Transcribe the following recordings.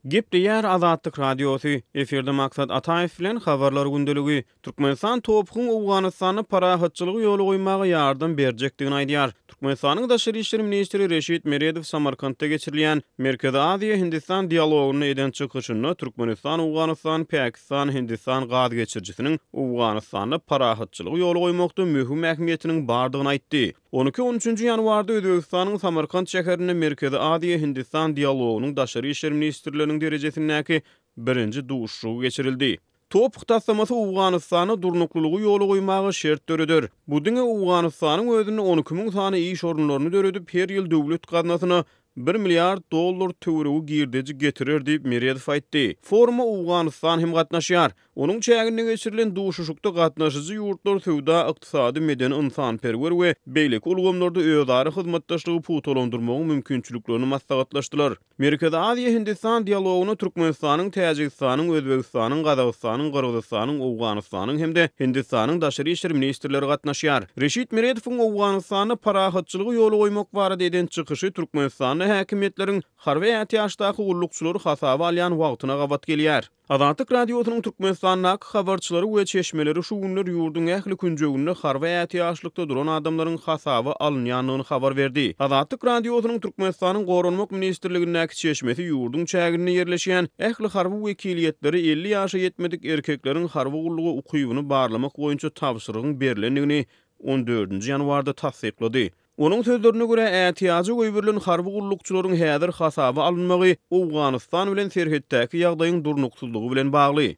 Gep diýýär Azatlyk Radiosy. Efirde Maksat Ataýew bilen Habarlar gündeligi. Türkmenistan TOPH-yň Owganystanda parahatçylygy ýola goýmaga ýardam berjekdigini aýdýar. Türkmenistanyň daşary işler ministri Reşit Meredow Samarkantda geçirilýän Merkezi Aziýa, Hindistan dialogynda eden çykyşynda Türkmenistan Owganystan, Pakistan, Hindistan gaz geçirijisiniň Owganystanda parahatçylygy ýola goýmakda möhüm ähmiýetiniň bardygyny aýtdy. On iki, on üçünji ýanwarda Özbegistanyň Samarkant şäherinde Merkezi Aziýa, Hindistan dialogynyň daşary işler ministrleriniň derejesindäki birinji duşuşygy geçirildi. TOPH taslamasy Owganystanda durnuklylygy ýola goýmaga şert döreder. Bu diňe Owganystanyň özünde on iki müň sany iş orunlaryny döredip, her ýyl döwlet gaznasyna bir milliard dollar töweregi girdeji getirer diýip, Meredow aýtdy. Foruma Owganystan hem gatnaşýar. Onuň çäginde geçirilen duşuşykda gatnaşyjy ýurtlar söwda, ykdysady, medeni-ynsanperwer we beýleki ulgamlarda özara hyzmatdaşlygy pugtalandyrmagyň mümkinçiliklerini maslahatlaşdylar. Merkezi Aziýa-Hindistan dialogyna Türkmenistanyň, Täjigistanyň, Özbegistanyň, Gazagystanyň, Gyrgyzystanyň, Owganystanyň hem-de Hindistanyň daşary işler ministrleri gatnaşýar. Reşit Meredowyň Owganystanda parahatçylygy ýola goýmak barada eden çykyşy Türkmenistanda häkimiýetleriň harby ätiýaçdaky gullukçylary hasaba alýan wagtyna gabat gelýär. Azatlyk Radiosynyň Türkmenistandaky habarçylary we çeşmeleri şu günler ýurduň ähli künjeginde harby ätiýaçlykda duran adamlaryň hasaba alynýandygyny habar berdi. Azatlyk Radiosynyň Türkmenistanyň Goranmak ministrligindäki çeşmesi ýurduň çäginde ýerleşýän ähli harby wekiliýetlere elli ýaşa ýetmedik erkekleriň harby gulluga ukybyny barlamak boýunça tabşyrygyň berlendigini on dördünji ýanwarda tassyklady. Onuň sözlerine görä, ätiýaja goýberilen harby gullukçylaryň häzir hasaba alynmagy Owganystan bilen serhetdäki ýagdaýyň durnuksyzlygy bilen bagly.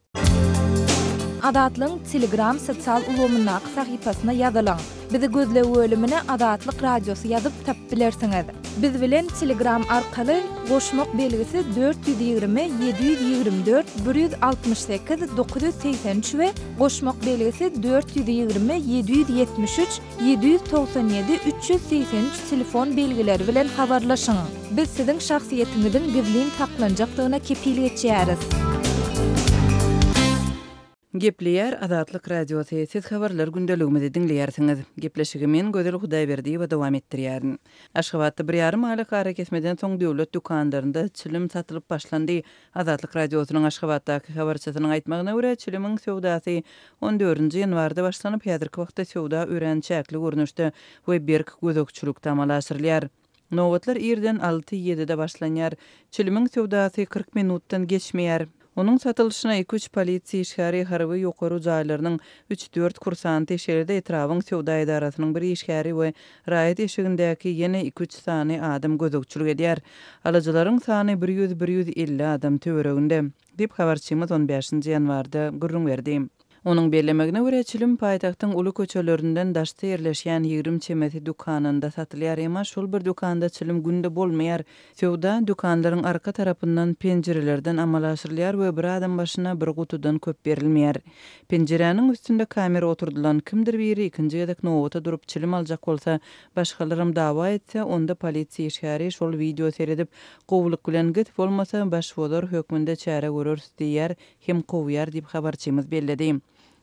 Azatlygyň Telegram sosial ulgamyndaky sahypasyna ýazylyň. Bizi gözleg bölümine Azatlyk Radiosy ýazyp tapyp bilersiňiz. Biz bilen Telegram arkaly goşmak belgisi dört ýüz ýigrimi, ýedi ýüz ýigrimi dört, bir ýüz altmyş sekiz, dokuz ýüz segsen üç we Goşmak belgisi dört ýüz ýigrimi ýedi ýüz ýetmiş üç ýedi ýüz togsan ýedi üç ýüz segsen üç telefon belgileri bilen habarlaşyň. Biz siziň şahsyýetiňiziň gizlin saklanjakdygyna kepil geçýäris. Gepleýär Azatlyk Radiosy, Siz habarlar gündeligimizi diňleýärsiňiz. Gepleşigi men, Gözel Hudaýberdiýewa dowam etdirýärin. Aşgabatda bir ýarym aýlyk arakesmeden soň döwlet dükanlarynda çilim satylyp başlandy, Azatlyk Radiosynyň Aşgabatdaky habarçysynyň aýtmagyna görä, çilimiň söwdasy on dördünji ýanwarda başlanyp, häzirki wagtda söwda örän çäkli görnüşde we berk gözegçilikde amala aşyrylýar. Nobatlar irden alty-ýedide başlanýar. Çilimiň söwdasy kyrk minutdan geçmeýär. Onuň satylyşyna iki-üç polisiýa işgäri, harby ýokary jaýlarynyň üç-dört kursanty, şeýle-de etrabyň söwda edarasynyň bir işgäri we Raýat eşigindäki ýene iki-üç sany adam gözegçilik edýär. Alyjylaryň sany bir ýüz, bir ýüz elli adam töwereginde, diýip, habarçymyz on bäşinji ýanwarda gürrüň berdi. Onuň bellemegine görä, çilim paýtagtyň uly köçelerinden daşda ýerleşýän ýigrimi çemesi dükanynda satylýar, emma şol bir dükanda çilim günde bolmaýar, Söwda dükanlaryň arka tarapyndan penjirelerden amala aşyrylýar we bir adam başyna bir gutudan köp berilmeýär. Penjiräniň üstünde kamera oturdylan, kimdir biri ikinji gezek nobata durup çilim aljak bolsa, başgalaram dawa etse, onda polisiýa işgäri şol wideo seredip, gowulyk bilen git, bolmasa, başbozar hökmünde çäre göreris diýýär hem kowýar diýip habarçymyz belledi.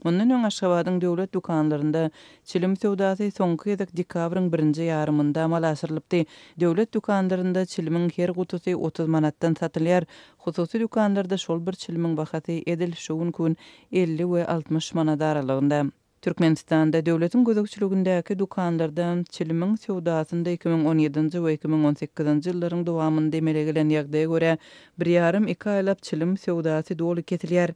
Mundan öň Aşgabadyň döwlet dükanlarynda çilim söwdasy soňky gezek dekabryň birinji ýarymynda amala aşyrylypdy. Döwlet dükanlarynda çilimiň her gutusy otuz manatdan satylýar. Hususy dükanlarda şol bir çilimiň bahasy edil şu günki gün elli we altmyş manat aralygynda. Türkmenistanda döwletiň gözegçiligindäki dükanlarda çilimiň söwdasynda iki müň on ýedinji we iki müň on sekizinji ýyllaryň dowamynda emele gelen ýagdaýa görä, bir ýarym-iki aýlap çilim söwdasy doly kesilýär.